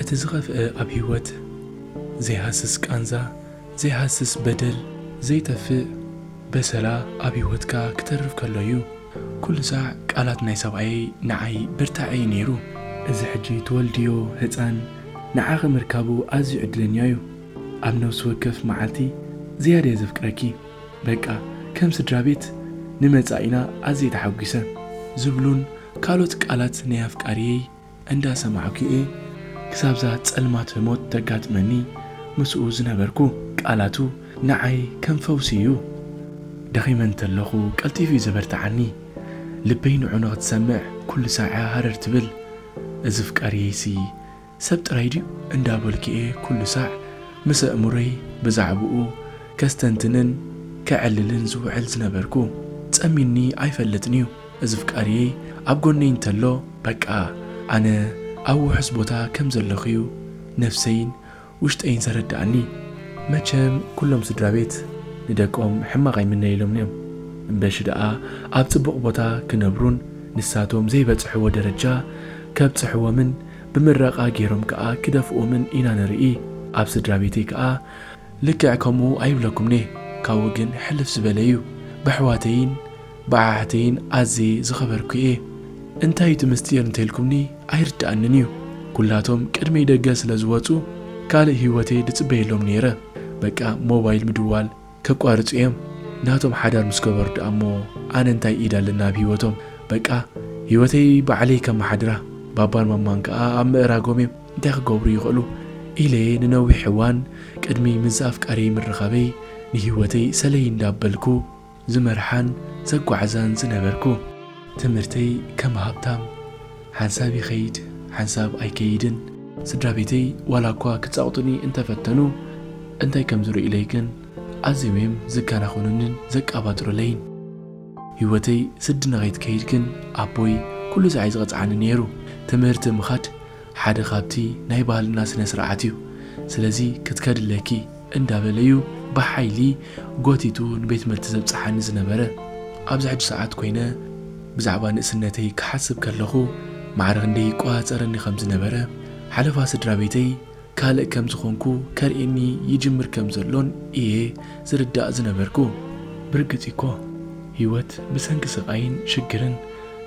እቲ ዝኸፍኤ ኣብ ሂወት ዘይሃስስ ቃንዛ ዘይሃስስ በደል ዘይጠፍእ በሰላ ኣብ ሂወትካ ክተርፍ ከሎ እዩ ኩሉ ሳዕ ቃላት ናይ ሰብኣየይ ንዓይ ብርታዐ እዩ ነይሩ እዚ ሕጂ ትወልድዮ ህጻን ንዓኺ ምርካቡ ኣዝዩ ዕድለኛ እዩ ኣብ ነብሲ ወከፍ መዓልቲ ዝያዳየ ዘፍቅረኪ። በቃ ከም ስድራቤት ንመጻኢና ኣዝየ ተሓጒሰ ዝብሉን ካልኦት ቃላት ናይ ኣፍቃሪየይ እንዳሰማዕኩ'የ ክሳብ'ዛ ጸልማት ሞት ተጋጥመኒ ምስኡ ዝነበርኩ። ቃላቱ ንዓይ ከም ፈውሲ'ዩ። ደኺመ እንተለኹ ቀልጢፉ'ዩ ዘበርትዓኒ። ልበይ ንዑ ንኽትሰምዕ ኩሉ ሳዐ ሃረር ትብል። እዚ ፍቃሪየይ'ሲ ሰብ ጥራይ ድዩ እንዳበልኩ'የ ኩሉ ሳዕ ምስ ኣእምሮይ ብዛዕብኡ ከስተንትንን ከዕልልን ዝውዕል ዝነበርኩ። ጸሚኒ ኣይፈልጥን'ዩ እዚ ፍቃርየይ ኣብ ጎነይ እንተሎ በቃ ኣነ ኣብ ውሑስ ቦታ ከም ዘለኹ'ዩ ነፍሰይን ውሽጠይን ዘረድኣኒ። መቸም ኩሎም ስድራቤት ንደቆም ሕማቕ ኣይምነይሎምን'ዮም እምበሺ ደኣ ኣብ ጽቡቕ ቦታ ክነብሩን ንሳቶም ዘይበጽሕዎ ደረጃ ከብጽሕዎምን ብምረቓ ጌሮም ከኣ ክደፍኡምን ኢና ንርኢ ኣብ ስድራቤተይ ከኣ ልክዕ ከምኡ ኣይብለኩምን'የ ካብኡ ግን ሕልፍ ዝበለ'ዩ በሕዋተይን በዓሕተይን ኣዝየ ዝኸበርኩ'የ እንታይ'ዩ'ቲ ምስጢር እንተልኩምኒ ኣይርደኣንን'ዩ ኩላቶም ቅድመይ ደገ ስለዝወጹ ካልእ ሂወተይ ድጽበየሎም ኔረ በቃ ሞባይል ምድዋል ከቋርጹ እዬም ናቶም ሓዳር ምስ ገበሩ ድኣ እሞ ኣነ እንታይ ኢድ ኣለኒ ኣብ ሂወቶም በቃ ሂወተይ ባዕለይ ከማሓድራ ባባን ማማን ከኣ ኣብ ምእራጎም እዬም እንታይ ክገብሩ ይኽእሉ ኢለ ንነዊሕ እዋን ቅድሚ ምዝ ኣፍቃርየይ ምርኻበይ ንሂወተይ ሰለይ እንዳበልኩ ዝመርሓን ዘጓዕዛን ዝነበርኩ ትምህርተይ ከም ሃብታም ሓንሳብ ይኸይድ ሓንሳብ ኣይከይድን ስድራቤተይ ዋላኳ ክጻቕጡኒ እንተፈተኑ እንታይ ከም ዝርእዩለይ ግን ኣዝዮም'ዮም ዝከናኸኑንን ዘቃባጥሩለይን ሂወተይ ስዲ ንኸይትከይድ ግን ኣቦይ ኩሉ ሳዕ እዩ ዝቕጽዓኒ ኔሩ ትምህርቲ ምኻድ ሓደ ካብቲ ናይ ባህልና ስነስርዓት'ዩ ስለዚ ክትከዲ ኣለኪ እንዳበለ'ዩ ብሓይሊ ጎቲቱ ንቤትምህርቲ ዘብጽሓኒ ዝነበረ። ኣብዚ ሕጂ ሰዓት ኮይነ ብዛዕባ ንእስነተይ ክሓስብ ከለኹ፣ ማዕረ ክንደይ ይቆጻጸረኒ ከም ዝነበረ፣ ሓለፋ ስድራቤተይ ካልእ ከም ዝኾንኩ ከርእየኒ ይጅምር ከም ዘሎን እየ ዝርዳእ ዝነበርኩ። ብርግጽ'ዩ'ኮ፣ ህይወት ብሰንኪ ስቓይን ሽግርን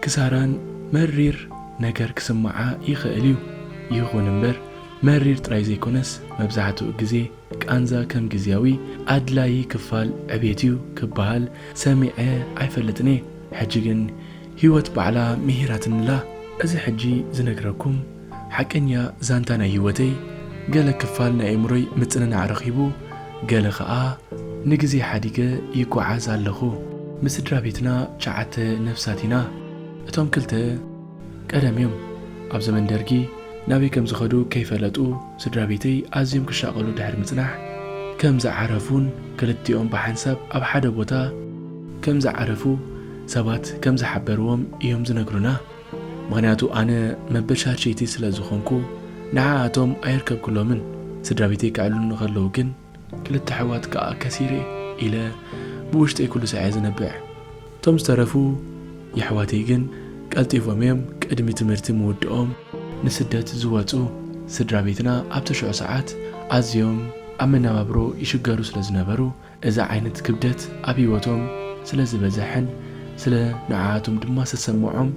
ክሳራን መሪር ነገር ክስምዓ ይኽእል'ዩ። ይኹን'ምበር፣ መሪር ጥራይ ዘይኮነስ መብዛሕትኡ ግዜ ቃንዛ ከም ግዝያዊ ኣድላዪ ክፋል ዕቤት እዩ ክበሃል ሰሚዐ ኣይፈልጥን እየ። ሕጂ ግን ህይወት ባዕላ ምሂራትኒ'ላ። እዚ ሕጂ ዝነግረኩም ሓቀኛ ዛንታ ናይ ህይወተይ ገለ ክፋል ናይ ኣእምሮይ ምጽንናዕ ረኺቡ ገለ ከኣ ንግዜ ሓዲገ ይጎዓዝ ኣለኹ። ምስ ስድራቤትና ትሽዓተ ነፍሳት ኢና። እቶም ክልተ። ቀደም እዮም ኣብ ዘመን ደርጊ ናበይ ከም ዝኸዱ ከይፈለጡ ስድራ ቤተይ ኣዝዮም ክሻቐሉ ድሕሪ ምጽናሕ ከም ዝዓረፉን ክልቲኦም ብሓንሳብ ኣብ ሓደ ቦታ ከም ዝዓረፉ ሰባት ከም ዝሓበርዎም እዮም ዝነግሩና። ምኽንያቱ ኣነ መበል ሻድሸይቲ ስለ ዝኾንኩ ንዓኣቶም ኣየርከብኩሎምን። ስድራ ቤተይ ከዕልሉኒ ከለዉ ግን። ክልተ ኣሕዋት ከኣ ከሲረ ኢለ ብውሽጠይ ኩሉ ሳዕ እየ ዝነብዕ። እቶም ዝተረፉ የሕዋተይ ግን ቀልጢፎም እዮም ቅድሚ ትምህርቲ ምውድኦም ንስደት ዝወጹ። ስድራቤትና ኣብቲ ሽዑ ሰዓት ኣዝዮም ኣብ መነባብሮ ይሽገሩ ስለ ዝነበሩ እዚ ዓይነት ክብደት ኣብ ህይወቶም ስለ ዝበዘሐን ስለ ንዓኣቶም ድማ ዝተሰመዖም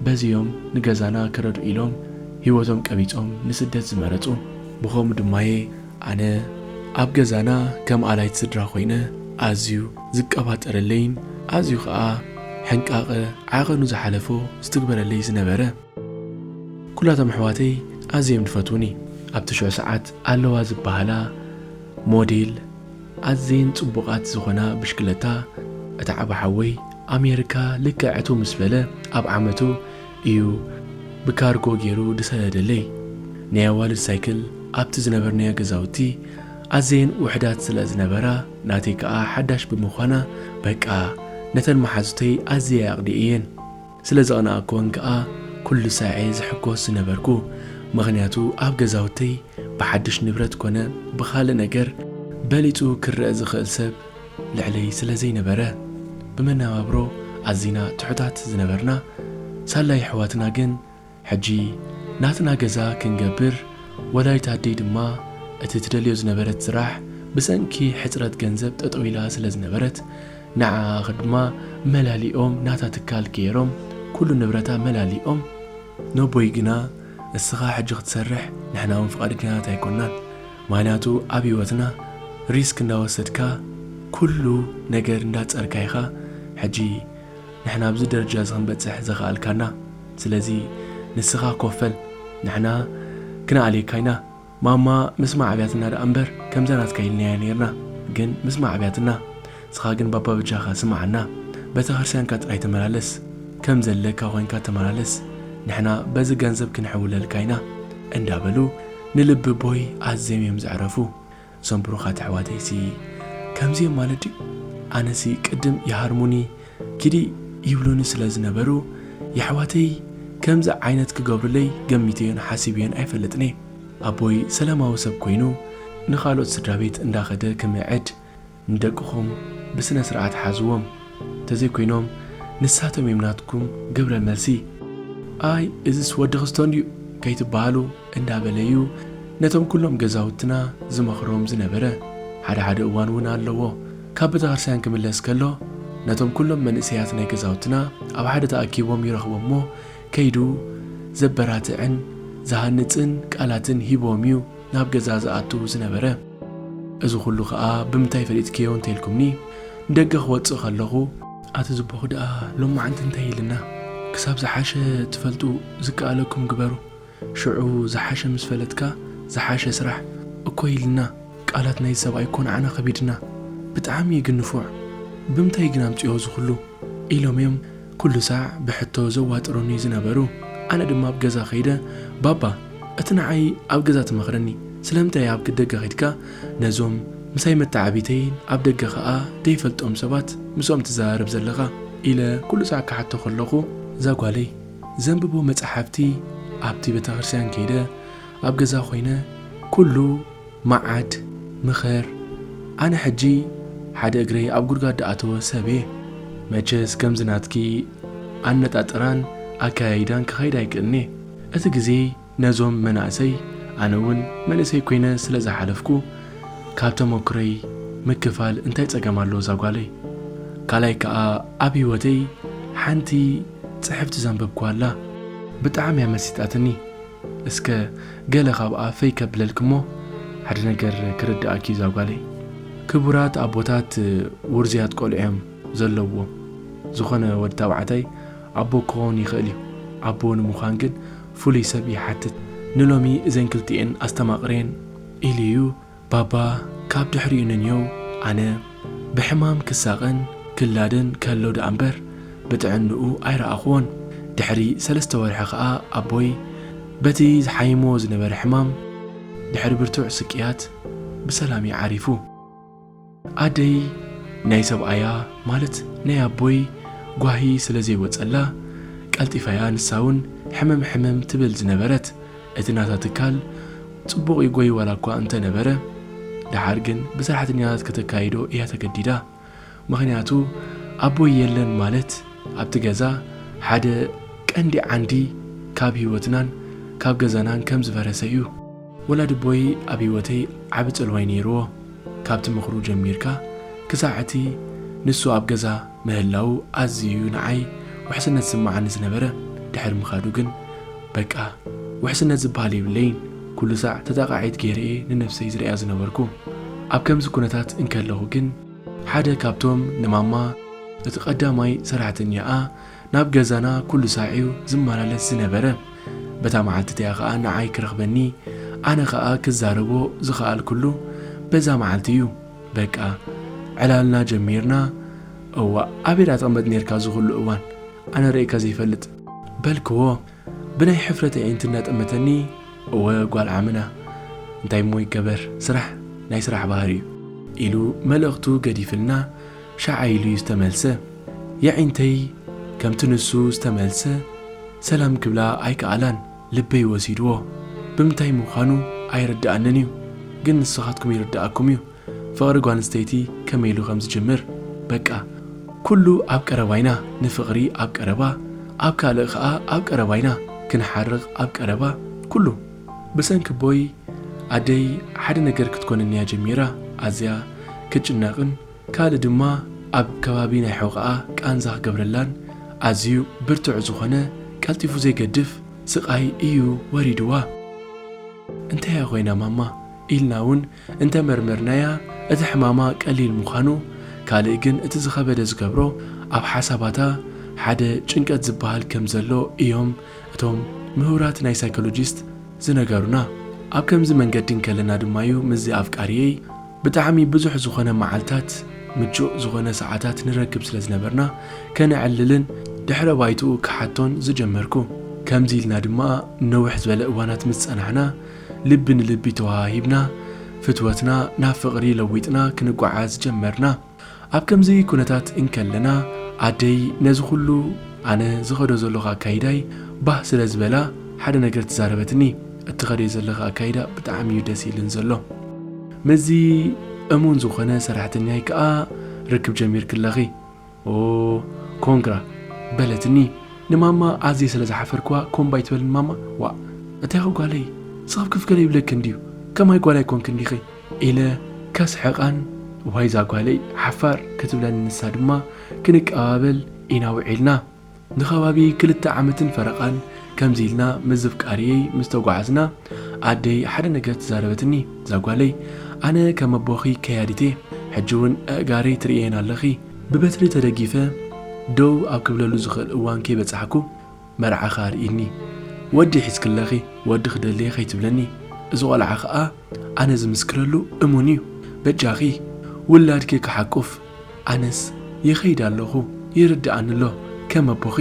በዚ እዮም ንገዛና ክረድኡ ኢሎም ህይወቶም ቀቢጾም ንስደት ዝመረጹ። ብኸምኡ ድማ'የ ኣነ ኣብ ገዛና ከም ኣላይት ስድራ ኮይነ ኣዝዩ ዝቀባጠረለይን ኣዝዩ ከኣ ሕንቃቐ ዓቐኑ ዝሓለፎ ዝትግበረለይ ዝነበረ። ኩላቶም ኣሕዋተይ ኣዝዬም ድፈትዉኒ። ኣብቲ ሽዑ ሰዓት ኣለዋ ዝበሃላ ሞዴል ኣዝዬን ጽቡቓት ዝኾና ብሽክለታ እታ ዓቢ ሓወይ ኣሜርካ ልክዕ ዕትው ምስ በለ ኣብ ዓመቱ እዩ ብካርጎ ጌሩ ድሰደደለይ። ናይ ኣዋልድ ሳይክል ኣብቲ ዝነበርናዮ ገዛውቲ ኣዘየን ውሕዳት ስለ ዝነበራ ናተይ ከኣ ሓዳሽ ብምዃና በቃ ነተን መሓዙተይ ኣዝየ ኣቕኒኤየን። ስለ ዘቕናኣኩወን ከኣ ኩሉ ሳዔ ዝሕጎስ ዝነበርኩ። ምኽንያቱ ኣብ ገዛውተይ ብሓዱሽ ንብረት ኮነ ብኻልእ ነገር በሊጹ ክረኣ ዝኽእል ሰብ ልዕለይ ስለ ዘይነበረ ብመነባብሮ ኣዚና ትሑታት ዝነበርና ሳላ የሕዋትና ግን ሕጂ ናትና ገዛ ክንገብር ወላዲት ኣደይ ድማ እቲ ትደልዮ ዝነበረት ስራሕ ብሰንኪ ሕጽረት ገንዘብ ጠጠው ኢላ ስለ ዝነበረት ንዓኣ ክድማ መላሊኦም ናታ ትካል ገይሮም ኩሉ ንብረታ መላሊኦም ነቦይ ግና እስኻ ሕጂ ክትሰርሕ ንሕና ውን ፍቓድኛታት ኣይኮናን ምክንያቱ ኣብ ሂወትና ሪስክ እንዳወሰድካ ኩሉ ነገር እንዳጸርካ ኢካ ሕጂ ንሕና ኣብዚ ደረጃ እዚ ክንበጽሕ ዘክኣልካና ስለዚ ንስካ ኮፈል ንሕና ክነኣልየካ ኢና ማማ ምስ ማዕብያትና ድኣ እምበር ከምዛ ናትካ ኢልናያ ኔርና ግን ምስ ማዕብያትና ንስካ ግን ባባ በጃካ ስምዓና በተክርስትያንካ ጥራይ ተመላለስ ከም ዘለካ ኮንካ ተመላለስ ንሕና በዚ ገንዘብ ክንሕውለልካ ኢና እንዳበሉ ንልቢ ቦይ ኣዝዮም እዮም ዘዕረፉ እዞም ብሩኻት ኣሕዋተይ ሲ ከምዚ እዮም ማለት ድዩ ኣነ ሲ ቅድም ይሃርሙኒ ኪዲ ይብሉኒ ስለ ዝነበሩ የሕዋተይ ከምዚ ዓይነት ክገብሩለይ ገሚተዮን ሓሲበዮን ኣይፈልጥን እየ ኣቦይ ሰላማዊ ሰብ ኮይኑ ንኻልኦት ስድራቤት እንዳኸደ ክምዕድ ንደቅኹም ብስነ ስርዓት ሓዝዎም ተዘይ ኮይኖም ንሳቶም እዮም ናትኩም ግብረ መልሲ። ኣይ እዝስ ወዲ ክስቶ እንድዩ ከይትበሃሉ እንዳበለ እዩ ነቶም ኩሎም ገዛውትና ዝመኽሮም ዝነበረ። ሓደ ሓደ እዋን እውን ኣለዎ ካብ ቤተክርስትያን ክምለስ ከሎ ነቶም ኩሎም መንእሰያት ናይ ገዛውትና ኣብ ሓደ ተኣኪቦም ይረኽቦም እሞ ከይዱ ዘበራትዕን ዝሃንጽን ቃላትን ሂብዎም እዩ። ናብ ገዛ ዝኣቱ ዝነበረ። እዚ ኹሉ ኸኣ ብምንታይ ፈሊጥክዮ እንተ ኢልኩምኒ፣ ንደገ ክወጽእ ከለኹ፣ ኣቲ ዝብኹ ደኣ ሎማዓንቲ እንታይ ኢልና፣ ክሳብ ዝሓሸ ትፈልጡ ዝከኣለኩም ግበሩ፣ ሽዑ ዝሓሸ ምስ ፈለጥካ ዝሓሸ ስራሕ፣ እኮ ኢልና፣ ቃላት ናይዚ ሰብኣይ እኮ ንዓና ከቢድና። ብጣዕሚ ግን ንፉዕ። ብምንታይ ግን ኣምጺኦ እዚ ኹሉ? ኢሎም'ዮም። ኩሉ ሳዕ ብሕቶ ዘዋጥሩኒ ዝነበሩ ኣነ ድማ ኣብ ገዛ ከይደ ባባ እቲ ንዓይ ኣብ ገዛ ትመኽረኒ ስለምንታይ ኣብ ደገ ከይድካ ነዞም ምሳይ መተዓብይተይን ኣብ ደገ ከኣ ደይፈልጦም ሰባት ምስኦም ትዘራረብ ዘለኻ ኢለ ኩሉ ሳዕ ክሓቶ ከለኹ እዛ ጓለይ ዘንብቦ መጽሓፍቲ ኣብቲ ቤተክርስትያን ከይደ ኣብ ገዛ ኮይነ ኩሉ መዓት ምኸር ኣነ ሕጂ ሓደ እግረይ ኣብ ጉድጋድ ድኣተወ ሰብ እየ መቸስ ከምዚ ናትኪ ኣነጣጥራን ኣከያይዳን ክኸይድ ኣይክእልን እየ እቲ ግዜ ነዞም መናእሰይ ኣነ እውን መንእሰይ ኮይነ ስለ ዝሓለፍኩ ካብ ተመኩረይ ምክፋል እንታይ ጸገም ኣለዎ እዛ ጓለይ ካልኣይ ከኣ ኣብ ሂወተይ ሓንቲ ጽሕፍቲ ዘንበብኩዋ ኣላ ብጣዕሚ እያ መሲጣትኒ እስከ ገለ ካብኣ ፈይ ከብለልክ'ሞ ሓደ ነገር ክርድኣኪ'ዩ ዛጓለይ። ክቡራት ኣቦታት ውርዙያት ቆልዑ'ዮም ዘለዉዎም። ዝኾነ ወዲ ታብዓታይ ኣቦ ክኾን ይኽእል'ዩ። ኣቦ ንምዃን ግን ፍሉይ ሰብ ይሓትት። ንሎሚ እዘን ክልቲኤን ኣስተማቕርየን ኢሉ'ዩ። ባባ ካብ ድሕሪኡ ንንዮው ኣነ ብሕማም ክሳቐን ክላደን ከሎ ደኣምበር ብጥዕንኡ ኣይረኣኹዎን። ድሕሪ ሰለስተ ወርሒ ከኣ ኣቦይ በቲ ዝሓይሞ ዝነበረ ሕማም ድሕሪ ብርቱዕ ስቅያት ብሰላም'ዩ ዓሪፉ። ኣደይ ናይ ሰብኣያ ማለት ናይ ኣቦይ ጓሂ ስለ ዘይወጸላ ቀልጢፋ'ያ ንሳ'ውን ሕምም ሕምም ትብል ዝነበረት። እቲ ናታ ትካል ጽቡቕ ይጎይ ዋላ'ኳ እንተ ነበረ፣ ደሓር ግን ብሰራሕተኛታት ከተካይዶ እያ ተገዲዳ። ምኽንያቱ ኣቦይ የለን ማለት ኣብቲ ገዛ ሓደ ቀንዲ ዓንዲ ካብ ህይወትናን ካብ ገዛናን ከም ዝፈረሰ'ዩ። ወላዲቦይ ኣብ ህይወተይ ዓቢ ጽልዋይ ነይርዎ ካብቲ ምኽሩ ጀሚርካ ክሳዕ እቲ ንሱ ኣብ ገዛ ምህላዉ ኣዝዩ ንዓይ ውሕስነት ዝስምዓኒ ዝነበረ ድሕሪ ምኻዱ ግን በቃ ውሕስነት ዝብሃል የብለይን ኩሉ ሳዕ ተጠቓዒት ገይረ እየ ንነብሰይ ዝርእያ ዝነበርኩ ኣብ ከምዚ ኩነታት እንከለኹ ግን ሓደ ካብቶም ንማማ እቲ ቀዳማይ ሰራሕተኛኣ ናብ ገዛና ኩሉ ሳዕ'ዩ ዝመላለስ ዝነበረ። በታ መዓልቲ እቲኣ ኸኣ ንዓይ ክረኽበኒ፣ ኣነ ኸኣ ክዛረቦ ዝኸኣልኩሉ በዛ መዓልቲ እዩ። በቃ ዕላልና ጀሚርና። እዋእ ኣበይ ደኣ ትቕመጥ ኔርካ እዚ ኹሉ እዋን ኣነ ርእየካ ዘይፈልጥ? በልክዎ። ብናይ ሕፍረት ኣዒንቲ እናጠመተኒ፣ እወ ጓል ዓምና፣ እንታይ እሞ ይገበር፣ ስራሕ ናይ ስራሕ ባህሪ እዩ። ኢሉ መልእኽቱ ገዲፍልና ሸዓ ኢሉ እዩ ዝተመልሰ። የዒንተይ ከምቲ ንሱ ዝተመልሰ ሰላም ክብላ ኣይከኣላን፣ ልበይ ወሲድዎ። ብምንታይ ምዃኑ ኣይርደኣንን እዩ፣ ግን ንስኻትኩም ይርደኣኩም እዩ። ፍቕሪ ጓል ኣንስተይቲ ከመይ ኢሉ ከም ዝጅምር በቃ ኩሉ ኣብ ቀረባ ኢና ንፍቕሪ ኣብ ቀረባ ኣብ ካልእ ከኣ ኣብ ቀረባ ኢና ክንሓርቕ ኣብ ቀረባ ኩሉ ብሰንኪ ኣቦይ ኣደይ ሓደ ነገር ክትኮነኒ እያ ጀሚራ ኣዝያ ክትጭነቕን ካልእ ድማ ኣብ ከባቢ ናይ ሕቖኣ ቃንዛ ክገብረላን ኣዝዩ ብርቱዕ ዝኾነ ቀልጢፉ ዘይገድፍ ስቓይ እዩ ወሪድዋ። እንታይ እያ ኮይና ማማ ኢልና ውን እንተ መርመርናያ እቲ ሕማማ ቀሊል ምዃኑ ካልእ ግን እቲ ዝኸበደ ዝገብሮ ኣብ ሓሳባታ ሓደ ጭንቀት ዝበሃል ከም ዘሎ እዮም እቶም ምሁራት ናይ ሳይኮሎጂስት ዝነገሩና። ኣብ ከምዚ መንገዲ እንከለና ድማ እዩ ምስዚ ኣፍቃሪየይ ብጣዕሚ ብዙሕ ዝኾነ መዓልታት ምቹእ ዝኾነ ሰዓታት ንረክብ ስለ ዝነበርና ከነዕልልን ድሕረ ባይትኡ ክሓቶን ዝጀመርኩ። ከምዚ ኢልና ድማ ነዊሕ ዝበለ እዋናት ምስ ጸናሕና፣ ልቢ ንልቢ ተወሃሂብና ፍትወትና ናብ ፍቕሪ ለዊጥና ክንጓዓዝ ጀመርና። ኣብ ከምዚ ኩነታት እንከለና ኣደይ ነዚ ኩሉ ኣነ ዝኸዶ ዘለኹ ኣካይዳይ ባህ ስለ ዝበላ ሓደ ነገር ተዛረበትኒ እትኸድዮ ዘለኺ ኣካይዳ ብጣዕሚ እዩ ደስ ኢልን ዘሎ ምስዚ እሙን ዝኾነ ሰራሕተኛይ ከኣ ርክብ ጀሚርኪ ኣለኺ ኦህ ኮንግራ በለትኒ ንማማ ኣዝየ ስለ ዝሓፈርክዋ ኮምባ ኣይትበልን ማማ ዋእ እንታይኹ ጓለይ ስቅ ክፍ ገለ ይብለክን ድዩ ከማይ ጓል ኣይኮንክን ዲኺ ኢለ ከስሕቃን ዋይ ዛጓለይ ሓፋር ክትብለኒ ንሳ ድማ ክንቀባበል ኢና ውዒልና። ንከባቢ ክልተ ዓመትን ፈረቓን ከምዚ ኢልና ምስ ዘፍቃሪየይ ምስ ተጓዓዝና፣ ኣደይ ሓደ ነገር ተዛረበትኒ፣ ዛጓለይ ኣነ ከም ኣቦኺ ከያዲት እየ፣ ሕጂ ውን ኣእጋረይ ትርእየየን ኣለኺ፣ ብበትሪ ተደጊፈ ደው ኣብ ክብለሉ ዝኽእል እዋን ከይበጻሕኩ መርዓኺ ኣርእይኒ፣ ወዲ ሒዝክለኺ ወዲ ክደልየ ከይትብለኒ፣ እዚ ቆልዓ ከኣ ኣነ ዝምስክረሉ እሙን እዩ፣ በጃኺ ውላድኪ ክሓቁፍ። ኣነስ ይኸይድ ኣለኹ ይርድኣኒ ኣሎ ከም ኣቦኺ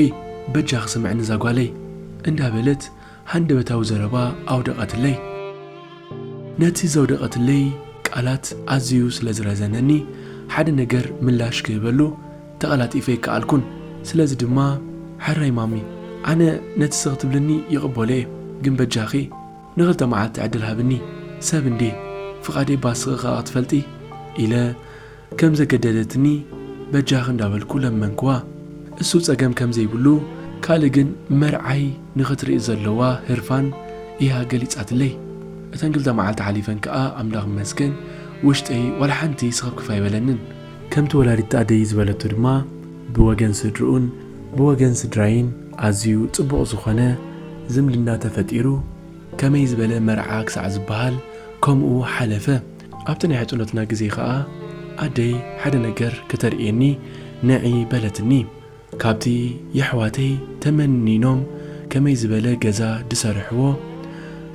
በጃኺ ስምዕኒ እዛ ጓለይ እንዳ በለት ሃንደበታዊ ዘረባ ኣውደቐትለይ። ነቲ ዘውደቐትለይ ቃላት ኣዝዩ ስለ ዝረዘነኒ ሓደ ነገር ምላሽ ክህበሉ ተቐላጢፈ ኣይከኣልኩን። ስለዚ ድማ ሕራይ ማሚ ኣነ ነቲ ስኽ ትብልኒ ይቕበሎ'የ ግን በጃኺ ንኽልተ መዓልቲ ዕድል ሃብኒ ሰብ እንድየ ፍቓደይ'ባ ስኽኺ ከኣ ክትፈልጢ ኢለ ከም ዘገደደትኒ በጃኺ እንዳበልኩ ለመንክዋ እሱ ጸገም ከም ዘይብሉ ካልእ ግን መርዓይ ንኽትርኢ ዘለዋ ህርፋን ኢያ ገሊጻትለይ እተን ክልተ መዓልቲ ሓሊፈን ከኣ ኣምላኽ ይመስገን ውሽጠይ ዋላ ሓንቲ ስኽፍክፍ ኣይበለንን ከምቲ ወላዲት ኣደይ ዝበለቶ ድማ ብወገን ስድርኡን ብወገን ስድራይን ኣዝዩ ጽቡቕ ዝኾነ ዝምድና ተፈጢሩ ከመይ ዝበለ መርዓ ክሳዕ ዝበሃል ከምኡ ሓለፈ። ኣብቲ ናይ ሕጽኖትና ግዜ ከኣ ኣደይ ሓደ ነገር ከተርእየኒ ንዒ በለትኒ። ካብቲ የሕዋተይ ተመኒኖም ከመይ ዝበለ ገዛ ድሰርሕዎ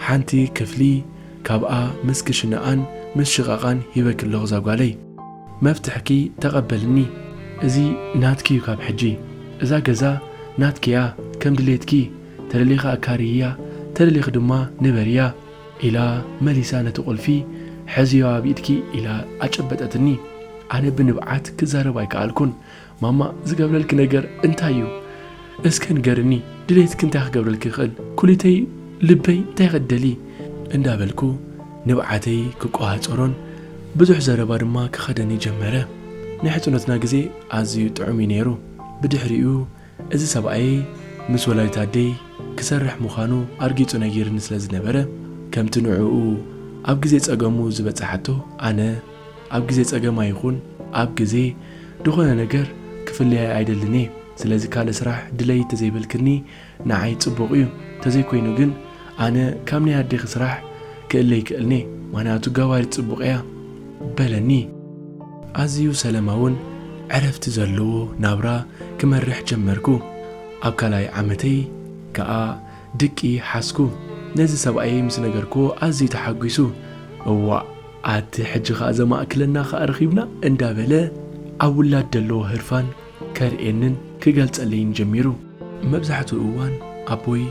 ሓንቲ ክፍሊ ካብኣ ምስ ክሽነኣን ምስ ሽቓቓን ሂበኪ ኣለኹ ዛጓለይ። መፍትሕኪ ተቐበልኒ እዚ ናትኪ'ዩ ካብ ሕጂ። እዛ ገዛ ናትኪ'ያ ከም ድሌትኪ ተደሊኺ ኣካርይያ ተደሊኺ ድማ ንበርያ። ኢላ መሊሳ ነቲ ቁልፊ ሕዝዮ ኣብ ኢድኪ ኢላ ኣጨበጠትኒ ኣነ ብንብዓት ክዛረብ ኣይከኣልኩን ማማ ዝገብረልኪ ነገር እንታይ እዩ እስከ ንገርኒ ድሌትኪ እንታይ ክገብረልኪ ይኽእል ኩሊተይ ልበይ እንታይ ክትደሊ እንዳበልኩ ንብዓተይ ክቆሃጸሮን ብዙሕ ዘረባ ድማ ክኸደኒ ጀመረ ናይ ሕጽኖትና ግዜ ኣዝዩ ጥዑም እዩ ነይሩ ብድሕሪኡ እዚ ሰብኣየይ ምስ ወላዲት ኣደይ ክሰርሕ ምዃኑ ኣርጊጹ ነጊሩኒ ስለ ዝነበረ፣ ከምቲ ንዕኡ ኣብ ግዜ ጸገሙ ዝበጸሓቶ፣ ኣነ ኣብ ግዜ ጸገማ ይኹን ኣብ ግዜ ድኾነ ነገር ክፍለያ ኣይደልን እየ። ስለዚ ካልእ ስራሕ ድለዪ ተዘይበልክኒ ንዓይ ጽቡቕ እዩ። ተዘይኮይኑ ግን ኣነ ካብ ናይ ኣዴኺ ስራሕ ክእለ ኣይክእልን'የ፣ ምኽንያቱ ገባሪት ጽቡቕ'ያ፣ በለኒ። ኣዝዩ ሰለማውን ዕረፍቲ ዘለዎ ናብራ ክመርሕ ጀመርኩ። ኣብ ካልኣይ ዓመተይ ከኣ ድቂ ሓዝኩ። ነዚ ሰብኣየይ ምስ ነገርክዎ ኣዝዩ ተሓጒሱ፣ እዋእ ኣቲ ሕጂ ከኣ ዘማእክለና ከኣ ረኺብና እንዳበለ ኣብ ውላድ ደለዎ ህርፋን ከርእየንን ክገልጸለይን ጀሚሩ። መብዛሕትኡ እዋን ኣቦይ።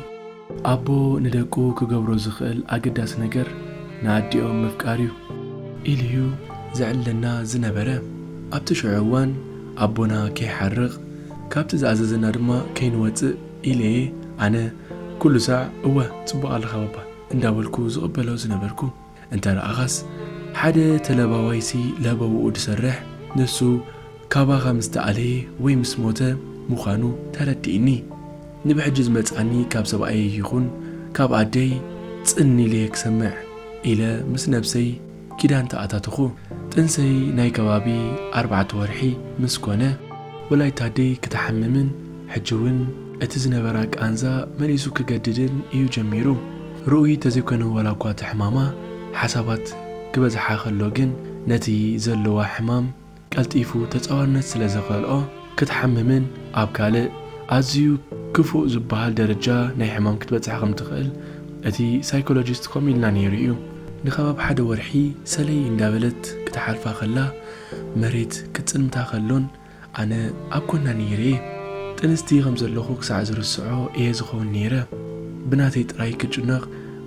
ኣቦ ንደቁ ክገብሮ ዝኽእል ኣገዳሲ ነገር ንኣዲኦም ምፍቃር እዩ። ኢሉ'ዩ ዘዕልለና ዝነበረ። ኣብቲ ሽዑ እዋን ኣቦና ከይሓርቕ፣ ካብቲ ዝኣዘዘና ድማ ከይንወጽእ ኢለ'የ ኣነ ኩሉ ሳዕ እወ ጽቡቕ ኣለኻ ባባ እንዳበልኩ ዝቕበሎ ዝነበርኩ። እንተ ረኣኻስ ሓደ ተለባዋይሲ ለበውኡ ድሰርሕ ንሱ ካባኻ ምስ ተኣለየ ወይ ምስ ሞተ ምዃኑ ተረዲእኒ። ንብሕጂ ዝመጽኣኒ ካብ ሰብኣየይ ይኹን ካብ ኣደይ ጽን ኢለ እየ ክሰምዕ ኢለ ምስ ነብሰይ ኪዳን ተኣታተኹ። ጥንሰይ ናይ ከባቢ ኣርባዕተ ወርሒ ምስ ኮነ ወላዲት ኣደይ ክትሓምምን፣ ሕጂ እውን እቲ ዝነበራ ቃንዛ መሊሱ ክገድድን እዩ ጀሚሩ። ርኡይ ተዘይኮይኑ ዋላ እኳ እቲ ሕማማ ሓሳባት ክበዝሓ ከሎ ግን ነቲ ዘለዋ ሕማም ቀልጢፉ ተጻዋርነት ስለ ዘኸልኦ ክትሓምምን ኣብ ካልእ ኣዝዩ ክፉእ ዝበሃል ደረጃ ናይ ሕማም ክትበጽሕ ከም ትኽእል እቲ ሳይኮሎጂስት ከምኡ ኢልና ነይሩ እዩ። ንከባቢ ሓደ ወርሒ ሰለይ እንዳበለት ክትሓልፋ ከላ መሬት ክትጽልምታ ከሎን ኣነ ኣብ ጎና ነይረ እየ ጥንስቲ ከም ዘለኩ ክሳዕ ዝርስዖ እየ ዝከውን ነይረ ብናተይ ጥራይ ክጭነቅ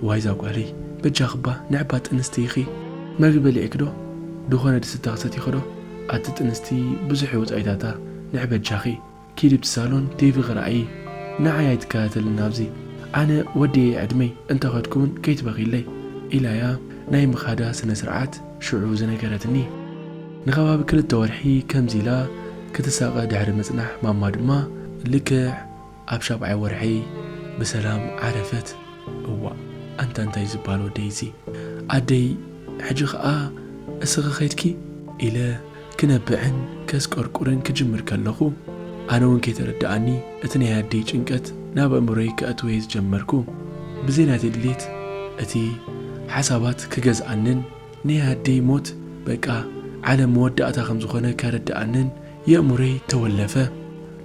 ዋይ ዛጓለይ በጃክባ ንዕባ ጥንስቲ ኢኪ መግቢ በሊዕኪ ዶ ድኮነ ድስታ ክሰቲኪ ዶ ኣቲ ጥንስቲ ብዙሕ እዩ ወጻኢታታ ንዕ በጃኪ ኪዲ ብቲ ሳሎን ቴቪ ክርኣዪ ንዓይ ኣይትካታተልን ኣብዚ ኣነ ወዲኤ ዕድመይ እንተ ከድኩ ውን ከይትበክይለይ ኢላያ ናይ ምካዳ ስነስርዓት ሽዑ ዝነገረትኒ፣ ንኸባቢ ክልተ ወርሒ ከምዚ ኢላ ክትሳቐ ድሕሪ ምጽናሕ ማማ ድማ ልክዕ ኣብ ሻብዓይ ወርሒ ብሰላም ዓረፈት። እዋእ ኣንታ እንታይ ዝብሃል ወደይ'ዚ! ኣደይ ሕጂ ኸኣ እስኺ ኸይድኪ? ኢለ ክነብዕን ከስቆርቁርን ክጅምር ከለኹ ኣነውን ከይተረደኣኒ እቲ ናይ ኣደይ ጭንቀት ናብ ኣእምሮይ ከእትዎ'የ ዝጀመርኩ። ብዘይ ናተይ ድሌት እቲ ሓሳባት ክገዝኣንን ናይ ኣደይ ሞት በቃ ዓለም መወዳእታ ከም ዝኾነ ከረድኣንን የእምሮይ ተወለፈ።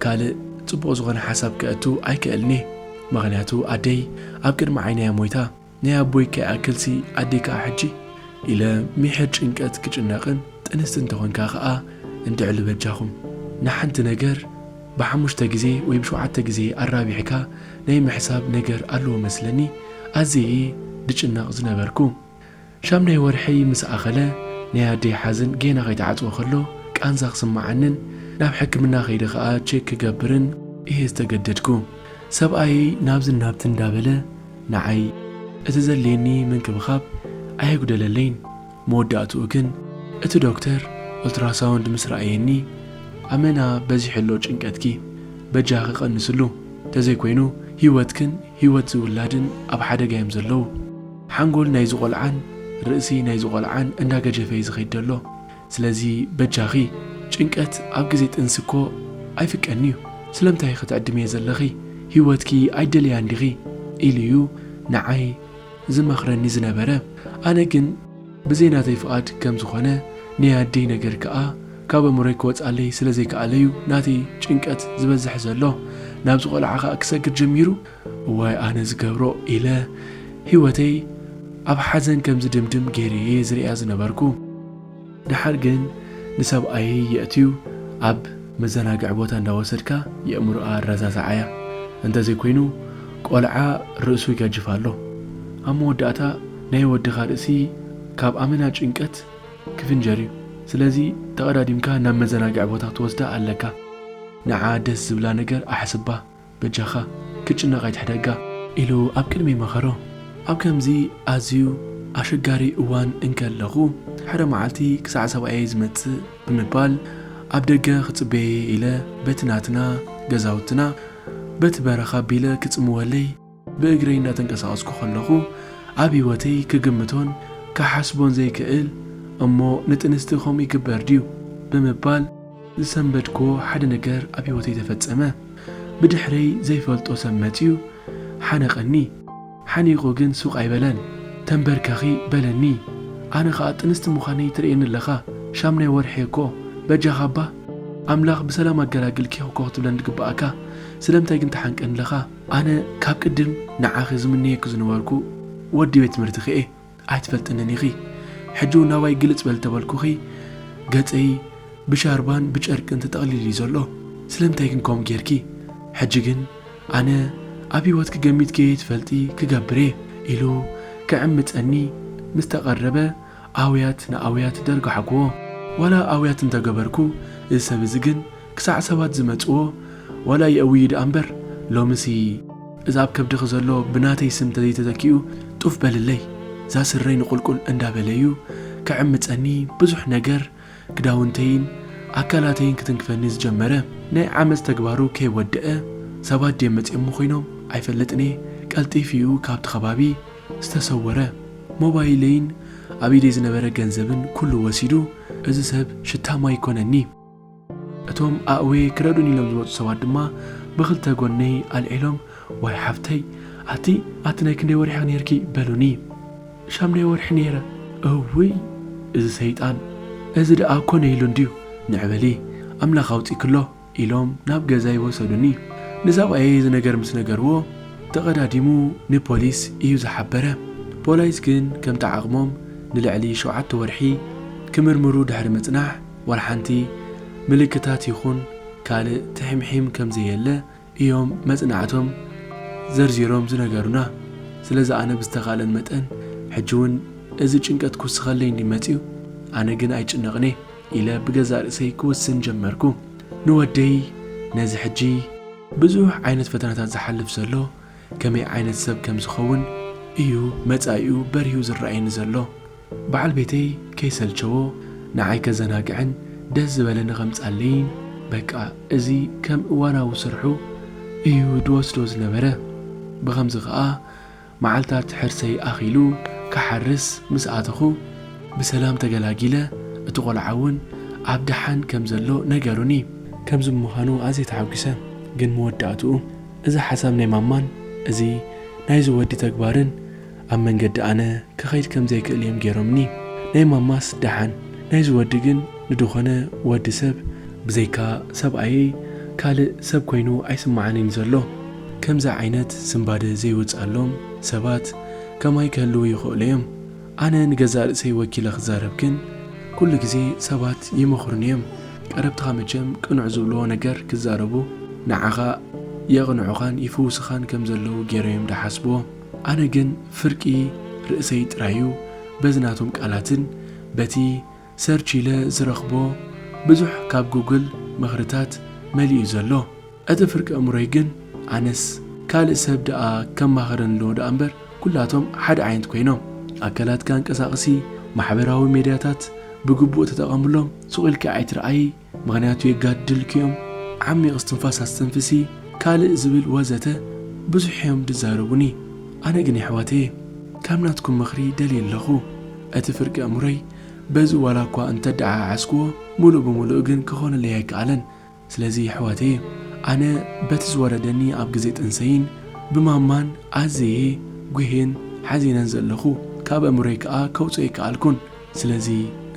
ካልእ ጽቡቕ ዝኾነ ሓሳብ ከእቱ ኣይክእልን'የ ምኽንያቱ ኣደይ ኣብ ቅድሚ ዓይነይ'ያ ሞይታ። ናይ ኣቦይ ከይኣክልሲ ኣደይ ከኣ ሕጂ ኢለ ሚሕር ጭንቀት ክጭነቕን ጥንስቲ እንተኾንካ ከኣ እንድዕሉ በጃኹም ንሓንቲ ነገር ብሓሙሽተ ግዜ ወይ ብሸውዓተ ግዜ ኣራቢሕካ ናይ ምሕሳብ ነገር ኣለዎ መስለኒ ኣዝየ እየ ድጭነቕ ዝነበርኩ ሻምናይ ወርሐይ ምስ ኣኸለ ናይ ኣደይ ሓዘን ጌና ከይተዓጽወ ከሎ ቃንዛ ክስምዓንን ናብ ሕክምና ከይደ ከኣ ቼክ ክገብርን እየ ዝተገደድኩ ሰብኣየይ ናብዝን ናብትን እንዳበለ ንዓይ እቲ ዘድልየኒ ምንክብኻብ ኣየጉደለለይን፣ መወዳእትኡ ግን እቲ ዶክተር ኦልትራሳውንድ ምስ ረኣየኒ፣ ኣመና በዚሑ ኣሎ ጭንቀትኪ፣ በጃኺ ቀንስሉ፣ ተዘይኮይኑ ህይወትክን ህይወት እዚ ውላድን ኣብ ሓደጋ እዮም ዘለዉ፣ ሓንጎል ናይዚ ቆልዓን ርእሲ ናይዚ ቆልዓን እንዳገጀፈ እዩ ዝኸይድ ዘሎ፣ ስለዚ በጃኺ ጭንቀት ኣብ ግዜ ጥንሲ እኮ ኣይፍቀንዩ ስለምታይ ክትዕድምዬ ዘለኺ ሂወትኪ ኣይደልያን ዲኺ ኢሉዩ ንዓይ ዝመኽረኒ ዝነበረ ኣነ ግን ብዘይ ናተይ ፍቃድ ከም ዝኾነ ነይ ኣደይ ነገር ክኣ ካብ ኣእምሮይ ክወጻለይ ስለ ዘይክኣለዩ ናተይ ጭንቀት ዝበዝሕ ዘሎ ናብዚ ቆልዓ ክኣ ክሰግር ጀሚሩ እዋይ ኣነ ዝገብሮ ኢለ ሂወተይ ኣብ ሓዘን ከም ዝድምድም ጌረ'የ ዝርእያ ዝነበርኩ። ደሓር ግን ንሰብኣየይ የእትዩ ኣብ መዘናግዒ ቦታ እንዳወሰድካ የእምሮኣ ኣረዛዝዓያ። እንተዘይኮይኑ ቆልዓ ርእሱ ይገጅፍ ኣሎ። ኣብ መወዳእታ ናይ ወድኻ ርእሲ ካብ ኣመና ጭንቀት ክፍንጀር'ዩ። ስለዚ ተቐዳዲምካ ናብ መዘናግዒ ቦታ ክትወስዳ ኣለካ። ንዓ ደስ ዝብላ ነገር ኣሕስባ። በጃኻ ክጭነቕ ኣይትሕደጋ። ኢሉ ኣብ ቅድሚይ መኸሮ። ኣብ ከምዚ ኣዝዩ ኣሸጋሪ እዋን እንከለኹ ሓደ መዓልቲ ክሳዕ ሰብኣየይ ዝመጽእ ብምባል ኣብ ደገ ክጽበዬ ኢለ በቲ ናትና ገዛውትና በቲ በረኻ ኣቢለ ክጽምወለይ ብእግረይ እናተንቀሳቐስኩ ከለኹ ኣብ ህይወተይ ክግምቶን ክሓስቦን ዘይክእል እሞ ንጥንስቲ ከምኡ ይግበር ድዩ ብምባል ዝሰንበድክዎ ሓደ ነገር ኣብ ህይወተይ ተፈጸመ። ብድሕረይ ዘይፈልጦ ሰብ መጺኡ ሓነቐኒ። ሓኒቑ ግን ሱቕ ኣይበለን። ተንበርከኺ በለኒ። ኣነ ከኣ ጥንስቲ ምዃነይ ትርእየኒ ኣለኻ፣ ሻምናይ ወርሒ'የ እኮ፣ በጃኻ እባ ኣምላኽ ብሰላም ኣገላግልኪ እኮ ክትብለኒ ዝግብኣካ፣ ስለምንታይ ግን ትሓንቀኒ ኣለኻ? ኣነ ካብ ቅድም ንዓኺ ዝምነየኪ ዝነበርኩ ወዲ ቤት ትምህርትኺ'የ። ኣይትፈልጥንን ኢኺ ሕጂ ውን ናባይ ግልጽ በል ተበልኩኺ ገጸይ ብሻርባን ብጨርቅን ተጠቕሊሉ እዩ ዘሎ ስለምንታይ ግን ከምኡ ጌርኪ ሕጂ ግን ኣነ ኣብ ሂወትኪ ገሚት ከይትፈልጢ ክገብር እየ ኢሉ ክዕምጸኒ ምስ ተቐረበ ኣውያት ንኣውያት ደርጓሕኩዎ ዋላ ኣውያት እንተገበርኩ እዚ ሰብ እዚ ግን ክሳዕ ሰባት ዝመጽዎ ዋላ የእውዩ ደኣ እምበር ሎምሲ እዛ ኣብ ከብድኺ ዘሎ ብናተይ ስም ተዘይተተኪኡ ጡፍ በልለይ እዛ ስረይ ንቁልቁል እንዳበለዩ ክዕምጸኒ ብዙሕ ነገር ክዳውንተይን ኣካላተይን ክትንክፈኒ ዝጀመረ ናይ ዓመጽ ተግባሩ ከይወደኣ ሰባት ድዮም መጽዮሞ ኮይኖም ኣይፈልጥንየ ቀልጢፊኡ ካብቲ ከባቢ ዝተሰወረ ሞባይለይን ኣብ ኢደይ ዝነበረ ገንዘብን ኩሉ ወሲዱ እዚ ሰብ ሽታ ማይ ኮነኒ። እቶም ኣእውየ ክረዱኒ ኢሎም ዝመጹ ሰባት ድማ ብኽልተ ጎነይ ኣልዒሎም ዋይ ሓብተይ ኣቲ ኣቲ ናይ ክንደይ ወርሒ ኢኺ ኔርኪ በሉኒ። ሻምናይ ወርሒ ኔረ። እውይ እዚ ሰይጣን እዚ ደኣ ኮነ ኢሉ እንድዩ ንዕ በሊ ኣምላኽ ኣውጺክሎ ኢሎም ናብ ገዛይ ወሰዱኒ። ንሰብኣየይ እዚ ነገር ምስ ነገርዎ ተቐዳዲሙ ንፖሊስ ኢዩ ዝሓበረ። ፖላይስ ግን ከምቲ ዓቕሞም ንልዕሊ ሸውዓተ ወርሒ ክምርምሩ ድሕሪ ምጽናሕ፣ ዋላሓንቲ ምልክታት ይኹን ካልእ ትሒምሒም ከምዘየለ እዮም መጽናዕቶም ዘርዚሮም ዝነገሩና። ስለዚ ኣነ ብዝተኻእለን መጠን ሕጂ ውን እዚ ጭንቀት ክውስኸለይ እንድዩ መጺኡ ኣነ ግን ኣይጭነቕን'የ ኢለ ብገዛእ ርእሰይ ክውስን ጀመርኩ። ንወደይ ነዚ ሕጂ። ብዙሕ ዓይነት ፈተናታት ዝሓልፍ ዘሎ ከመይ ዓይነት ሰብ ከምዝኸውን እዩ መጻኢኡ በሪሁ ዝረኣየኒ ዘሎ። በዓል ቤተይ ከይሰልቸዎ ንዓይ ከዘናግዕን ደስ ዝበለኒ ከምጻለይን በቃ እዚ ከም እዋናዊ ስርሑ እዩ ዝወስዶ ዝነበረ። ብኸምዚ ከኣ መዓልታት ሕርሰይ ኣኺሉ ክሓርስ ምስ ኣተኹ ብሰላም ተገላጊለ እቲ ቆልዓ እውን ኣብ ደሓን ከም ዘሎ ነገሩኒ። ከምዚ ብምዃኑ ኣዝየ ተሓጒሰ። ግን መወዳእትኡ እዚ ሓሳብ ናይ ማማን እዚ ናይዚ ወዲ ተግባርን፣ ኣብ መንገዲ ኣነ ክኸይድ ከም ዘይክእል እዮም ጌሮምኒ ናይ ማማስ ደሓን ናይዚ ወዲ ግን ንድኾነ ወዲ ሰብ ብዘይካ ሰብኣየይ ካልእ ሰብ ኮይኑ ኣይስመዓንይን ዘሎ ከምዚ ዓይነት ስንባደ ዘይወጽኣሎም ሰባት ከማይ ክህልዉ ይኽእሉ እዮም ኣነ ንገዛእ ርእሰይ ወኪለ ክዛረብ ግን ኩሉ ግዜ ሰባት ይመኽሩኒ እዮም ቀረብትኻ መቸም ቅኑዕ ዝብልዎ ነገር ክዛረቡ ንዓኻ የቕንዑኻን ይፍውስኻን ከም ዘለዉ ጌሮም እዮም ድሓስብዎ ኣነ ግን ፍርቂ ርእሰይ ጥራዩ በዚ ናቶም ቃላትን በቲ ሰርች ኢለ ዝረኽቦ ብዙሕ ካብ ጉግል ምኽርታት መሊኡ ዘሎ እቲ ፍርቂ ኣእምሮይ ግን ኣነስ ካልእ ሰብ ደኣ ከማኽረኒ ኣለዎ ደኣምበር ኩላቶም ሓደ ዓይነት ኮይኖም። ኣካላትካ ኣንቀሳቅሲ ማሕበራዊ ሜድያታት ብግቡእ ተጠቀምሎም ሱቅ ኢልኪ ኣይትርኣዪ። ምኽንያቱ የጋድድልኪ እዮም፣ ዓሚቕ እስትንፋስ ኣስተንፍሲ፣ ካልእ ዝብል ወዘተ ብዙሕ እዮም ዝዛረቡኒ። ኣነ ግን የሕዋተየ ከም ናትኩም ምኽሪ ደልየ ኣለኹ። እቲ ፍርቂ ኣእምሮይ በዚ ዋላ እኳ እንተደዓዓስኩዎ ምሉእ ብምሉእ ግን ክኾነለይ ኣይከኣለን። ስለዚ የሕዋተየ ኣነ በቲ ዝወረደኒ ኣብ ግዜ ጥንሰይን ብማማን ኣዘየ ጒህየን ሓዚነን ዘለኹ። ካብ ኣእምሮይ ከኣ ከውጽኦ ኣይከኣልኩን። ስለዚ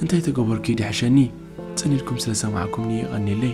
እንታይ ተገበርኩ እዩ ድሕሸኒ ጽን ኢልኩም ስለ ሰማዕኩምኒ የቀኔለይ።